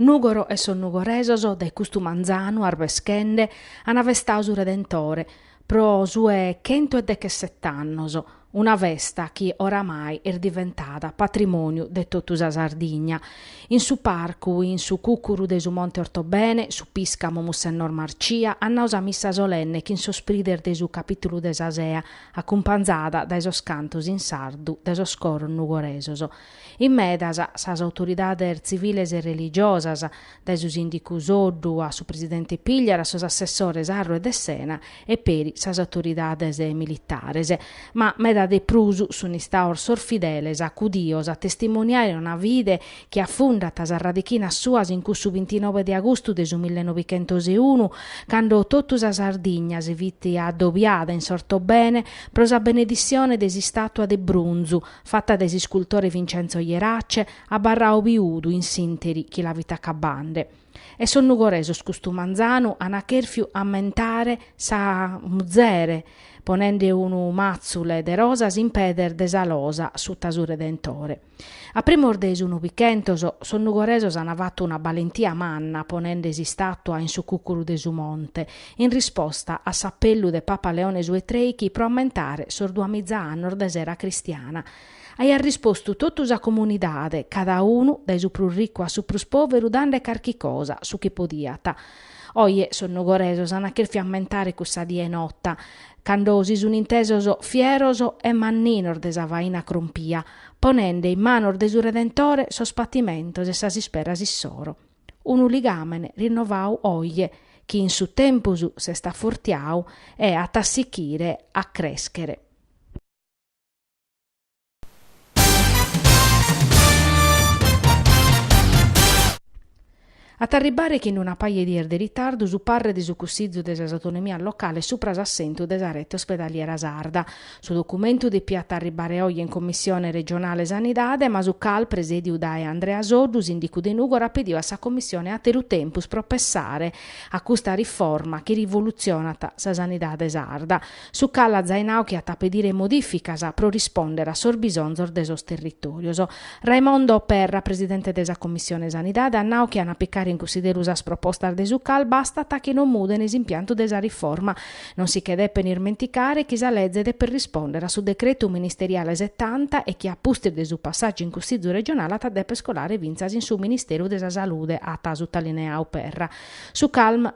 Nùgoro e sos nugoresos dae custu manzanu arbeschende an festadu su Redentore pro sue chentu e dechesset'annos, una festa chi oramai est diventada patrimòniu de totu sa Sardigna. In su parcu, in su cùcuru de su Monte Ortobene, su Piscamu Mussennor Marcia at nau sa missa solenne chin sos prides de su Capìtulu de sa Sea, acumpanzada dae sos cantos in sardu de sos coros nugoresos. In medas, sas autoridades tziviles e religiosas, dae su sìndicu Soddu a su presidente Pigliaru a sos assessores Arro e De Sena e peri sas autoridades militares. Ma meda de prus sun istados sos fideles acudidos a testimoniare una fide chi afundat sas radichinas suas in cussu bintinove de agustu de su millenovichentoseunu, cando totu sa Sardigna si fit addobiada in s'Ortobene pro sa beneditzione de s'istàtua de brunzu, fata de s'iscultore Vincenzo Jerace, abarrau biudu in s'interi chi la fit acabande. E sos nugoresos custu manzanu ana cherfiu ammentare sa muzere, ponende unu matzule de rosas in pedes de sa losa suta su Redentore. A primos de su Novichentos, sos nugoresos ana fatu una balentia manna ponende s'istatua in su cucuru de su monte, in risposta a s'apellu de Papa Leone su 'e trèichi pro ammentare sos duamiza annos de s'era cristiana. Aiat rispostu totu sa comunidade, cada unu, dae su prus ricu a su prus pòveru dande carchi cosa, su chi podiat. Oje sos nugoresos an cherfiu ammentare cussa die nota, cando si sun intesos fieros e manninos de sa faina crompia, ponende in manos de su Redentore sos patimentos e sas isperas issoro. unu ligàmene rinnovadu oje chi in su tempus s'est afortiadu e at a sichire a crèschere. At a arribare chin una paja 'e dies de ritardu su parre de su Cussizu de sas Autonomias Locales supra s'assentu de sa rete ospedaliera sarda, Su documentu depiat arribare oje in Commissione regionale Sanidade, ma su CAL, presèdiu dae Andrea Soddu, sìndicu de Nùgoro, at pediu a sa Commissione àteru tempus pro pessare a custa riforma chi rivolutzionat sa sanidade sarda, su CAL at zai nau chi at a pedire modìficas pro rispòndere a sos bisonzos de sos territòrios. Raimondo Perra, presidente de sa Commissione Sanidade, at nau chi an a picare in cunsideru sas propostas de su CAL bastat chi non muden s'impiantu de sa riforma, Non si che depet irmenticare chi sa leze depet rispòndere a su decretu ministeriale setanta e chi a pustis de su passàgiu in Cussìgiu regionale at a dèpere scolare fintzas in su Ministeru de sa Salude, at sutalineau Perra, su cale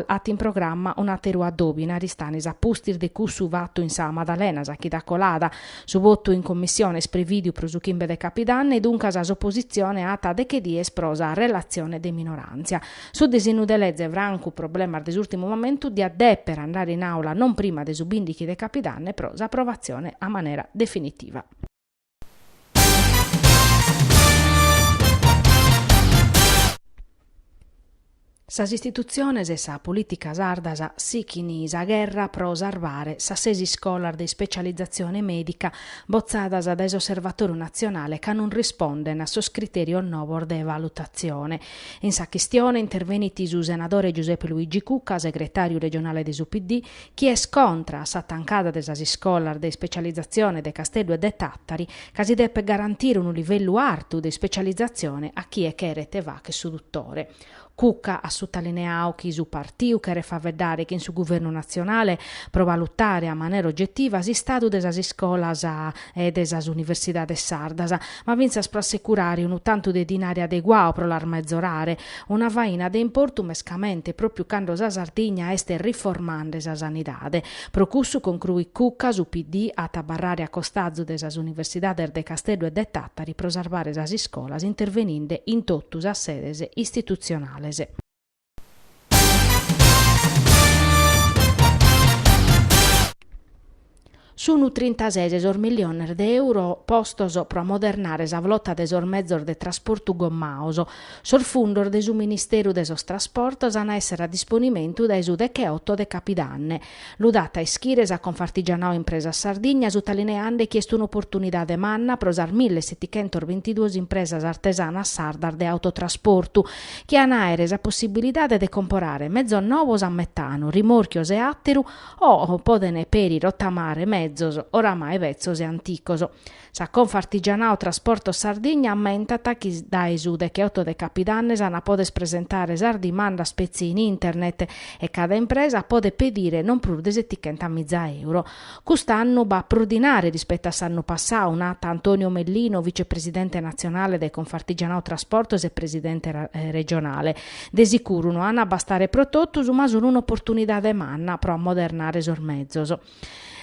at in programma un'àteru adòbiu in Aristanis a pustis de cussu fatu in sa Madalena, sa chida colada. Su votu in Commissione est prevìdiu pro su chimbe de Capidanne e duncas s'opositzione at deche dies pro sa relatzione de minoràntzia. Su disinnu de leze francu problemas de s'ùrtimu momentu diat dèpere andare in àula non prima de su bìndighi de capidanne pro s'aprovatzione a manera definitiva. Sas istitutziones e sa polìtica sardas sighint sa gherra pro sarvare sas ses iscolas de ispecializatzione mèdica botzadas dae s'Osservatòriu natzionale ca non rispondent a sos critèrios novos de valutatzione. In sa chistione intervenit su senadore Giuseppe Luigi Cucca, segretàriu regionale de su PD, chi est contra a sa tancada de sas iscolas de ispecializatzione de Casteddu e de Tàtari, ca si depet garantire unu livellu artu de ispecializatzione a chie cheret fàchere su dutore. Cucca at sutalineadu chi su partiu cheret faveddare chin su guvernu natzionale pro valutare a manera ogetiva s'istadu de sas iscolas e de sas universidades sardas, ma fintzas pro assecurare unu tantu de dinari adeguadu pro las mezorare, una faina de importu mescamente pròpiu cando sa Sardigna est riformande sa sanidade. Pro cussu, concruit Cucca, su PD at a abarrare a costazu de sas universidades de Casteddu e de Tàtari pro sarvare sas iscolas interveninde in totu sas sedes istitutzionales. Sunt trintases sos miliones de euro postos pro amodernare sa flota de sos mezos de trasportu gommaos. Sos fundos de su Ministeru de sos Trasportos an a èssere a disponimentu dae su Deche-otto de Capidanne. Lu dat a ischire sa Confartigianao Impresas Sardigna sutalineande chi est un'oportunidade manna pro sas mille setichentas bintiduas impresas artesanas sardas de autotrasportu chi an àere sa possibilidade de comporare mezos novos a metanu, rimòrchios e àteru o poden peri rotamare mezos oramai betzos e anticos. Sa Confartigianao Trasportos Sardigna ammentat chi dae su decheotto de capidanne s'ana a poder presentare sas dimandas petzi in internet e cada impresa podet pedire non prus de setichentamiza euro. Cust'annu b'at prus dinare rispettu a s'annu passau, nat Antonio Mellino, vicepresidente natzionale de Confartigianao Trasportos e presidente regionale. De sicuru no ana a bastare pro totus, ma sun un'oportunidade manna pro ammodernare sos mezos.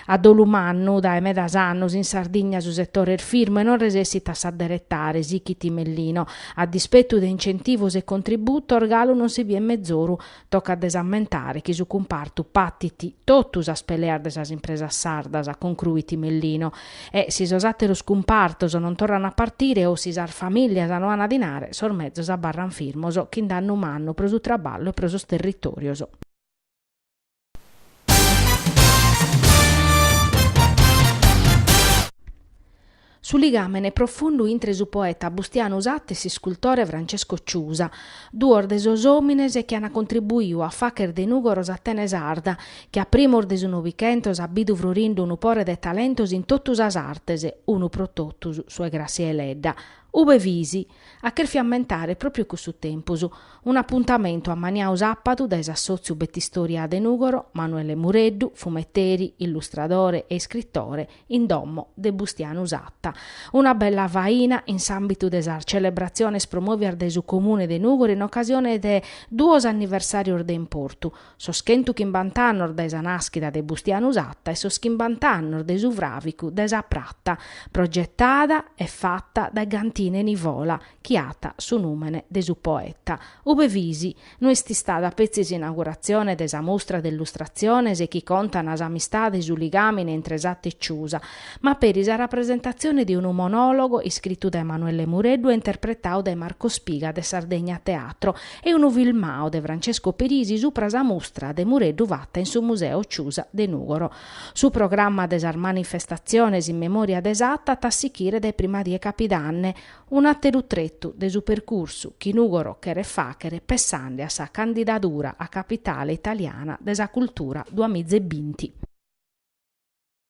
A dolu mannu, dae medas annus in Sardigna su setore est firmu e non resessit a s'adderetare, sichit Mellino. A dispetu de incentivos e contributos, galu non si biet mezoru. Tocat de s'ammentare chi su cumpartu patit totu sas peleas de sas impresas sardas, concruit Mellino. E si sos àteros cumpartos non torran a partire o si sas famìllias no ana dinare, sos mezos abarran firmos, chin dannu mannu, pro su traballu e pro sos territòrios. Su ligàmene profundu intre su poeta Bustianu Satta e s'iscultore Francesco Ciusa, duos de sos òmines chi ant contribuiu a facher de Nùgoro s'Atene sarda, chi a primos de su Novichentos at bidu frorindu unu pore de talentos in totu sas artes, unu pro totus, su 'e Grassia Deledda. Ube fis? at cherfiu ammentare pròpiu cussu tempus, un'apuntamentu ammaniau sàpadu dae s'assòtziu Betistòria de Nùgoro, Manuele Mureddu, fumeteri, illustradore e iscritore, in domo de Bustianu Satta. Una bella faina in s'àmbitu de sas celebratziones promòvias dae su Comune de Nùgoro in ocasione de duos anniversàrios de importu, sos chentu chimbant'annos dae sa nàschida de Bustianu Satta e sos chimbant'annos de su fràvicu de sa prata, progetada e fata dae Gantine Nivola, chi at su nùmene de su poeta. Ube fis? No est istada petzi s'inauguratzione de sa mustra de illustratziones chi contan s'amistade e su ligàmine intre Satta e Ciusa, ma peri sa rapresentatzione de unu monòlogo iscritu dae Manuele Mureddu e interpretau dae Marco Spiga de Sardegna Teatro, e unu filmau de Francesco Pirisi supra sa mustra de Mureddu fata in su Museo Ciusa de Nùgoro. Su programma de sas manifestatziones in memòria de Satta at a sichire dae prima die capidanne, un'àteru tretu de su percursu chi Nùgoro cheret fàchere pessande a sa candidadura a capitale italiana de sa cultura duamiza e binti.